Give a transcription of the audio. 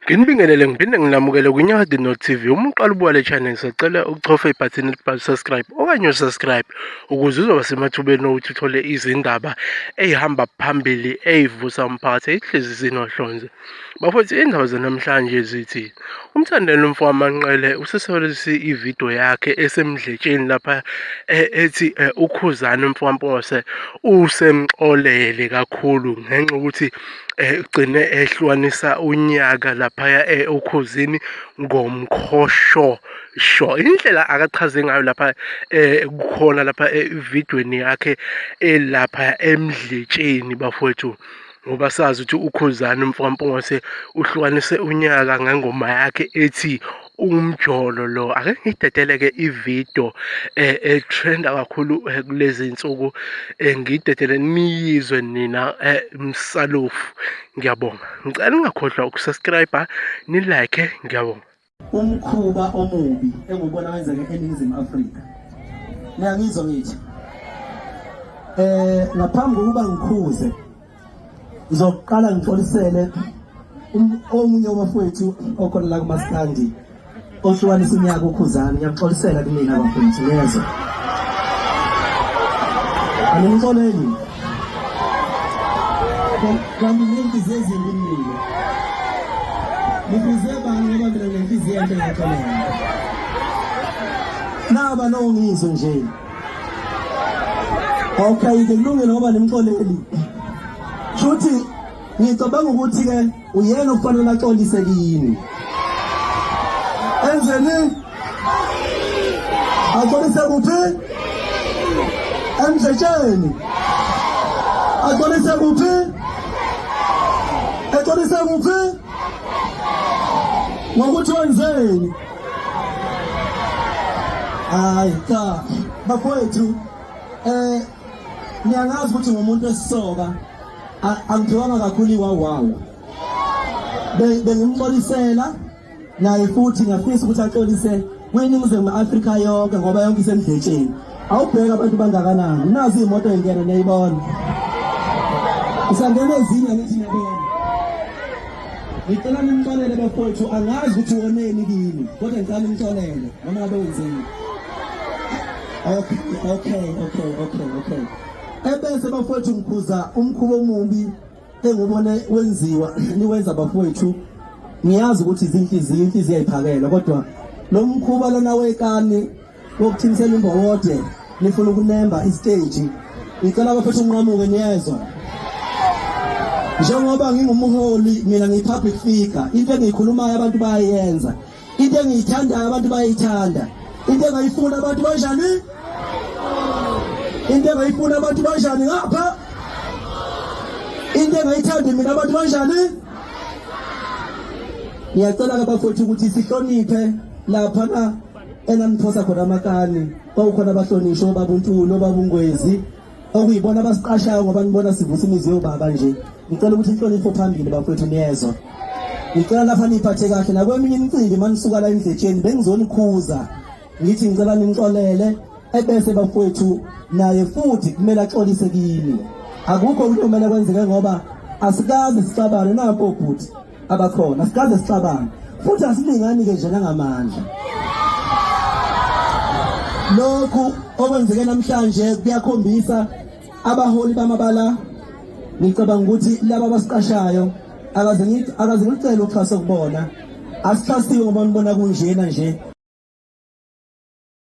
Nginibingelele ngiphinde nginamukele kwiNyakade North TV. Uma uqala ubuka le channel ngisacela uchofe ibhathini elibhalwe subscribe okanye usubscribe ukuze uzoba semathubeni okuthi uthole izindaba eyihamba phambili eyivusa umphakathi eyihlezi zinohlonze. Bafowethu iy'ndaba zanamhlanje zithi uMthandeni umfo wamanqele usesolise ividiyo yakhe esemdletsheni lapha e, ethi e, ukhuzani umfo wampose usemxolele kakhulu ngenxa yokuthi e, ugcine ehlukanisa unyaka laphaya ukhuzini ngomkhoshosho indlela akachaze ngayo lapha kukhona lapha evidweni yakhe elapha emdletsheni bafowethu ngoba sazi ukuthi ukhuzani mfwampongose uhlukanise unyaka ngengoma yakhe ethi umjolo lo ake ngidedeleke ividiyo um eh, etrenda kakhulu eh, kulezi nsuku um ngidedele niyizwe nina um msalofu ngiyabonga ngicela ungakhohlwa ukusubscribe nilike ngiyabonga umkhuba omubi engubona wenzeke eNingizimu Afrika niyangizwa ngithi eh ngaphambi kokuba ngikhuze ngizoqala ngixolisele um-, omunye wabafowethu okhona la kumaskandi ohlukanisa unyaka ukhuzana ngiyaxolisela kumina bafowethu niyezwa animxoleli kanti ngenhliziyo ezimbi mina ngibize bani ngoba mina ngenhliziyo enhle ngaxolela naba lowo ngizwe nje okay-ke kulungile ngoba nimxoleli shuthi ngicabanga ukuthi-ke uyena okufanele axolise kini enzeni axolise kuphi emdletsheni axolise kuphi exolise kuphi ngokuthi wenzeni hayi cha bakwethu eh niyangazi ukuthi ngumuntu esisoka angithiwanga kakhulu iwawawu bengimxolisela naye futhi ngafisa ukuthi axolise kwiningizimu afrika yonke ngoba yonke isemdletsheni awubheke abantu bangakanani nazi iy'moto engena niyayibona usangena ezinye ngithi niyabona ngicela nimxolele bafowethu angazi ukuthi woneni kimi kodwa ngicela nimxolele noma ngabe wenzeni okay okay okay okay okay ebese bafowethu ngikhuza umkhuba omubi engubone wenziwa niwenza bafowethu ngiyazi ukuthi izinhliziyo inhliziyo ayiphakela kodwa lo mkhuba lona wekani wokuthimisela imbowode nifuna ukunemba isiteji ngicela bafethu unqamuke niyezwa njengoba ngingumholi mina ngiyi-public figure into engiyikhulumayo abantu bayayenza into engiyithandayo abantu bayayithanda into engayifuni abantu banjani into engayifuni abantu banjani ngapha into engayithandi mina abantu banjani ngiyacela ke bafowethu ukuthi sihloniphe lapha na enaniphosa khona amakani kwawukhona abahlonishwa obaba untulu obaba ungwezi okuyibona abasiqashayo ngoba nibona sivusa imizi yobaba nje ngicela ukuthi inhlonipho phambili bafethu niyezwa ngicela lapha niphathe kahle nakweminye imicimbi manisuka la endletsheni bengizonikhuza ngithi ngicela nimxolele ebese bafethu naye futhi kumele axolise kini akukho ukuthi kumele kwenzeke ngoba asikazi sixabane napo bhuti abakhona sikaze sicabange futhi asilingani-ke nje nangamandla lokhu okwenzeke namhlanje kuyakhombisa abaholi bamabala ngicabanga ukuthi laba abasiqashayo akaze ngicele uxhaso kubona asixhasiwe ngoba nibona kunjena nje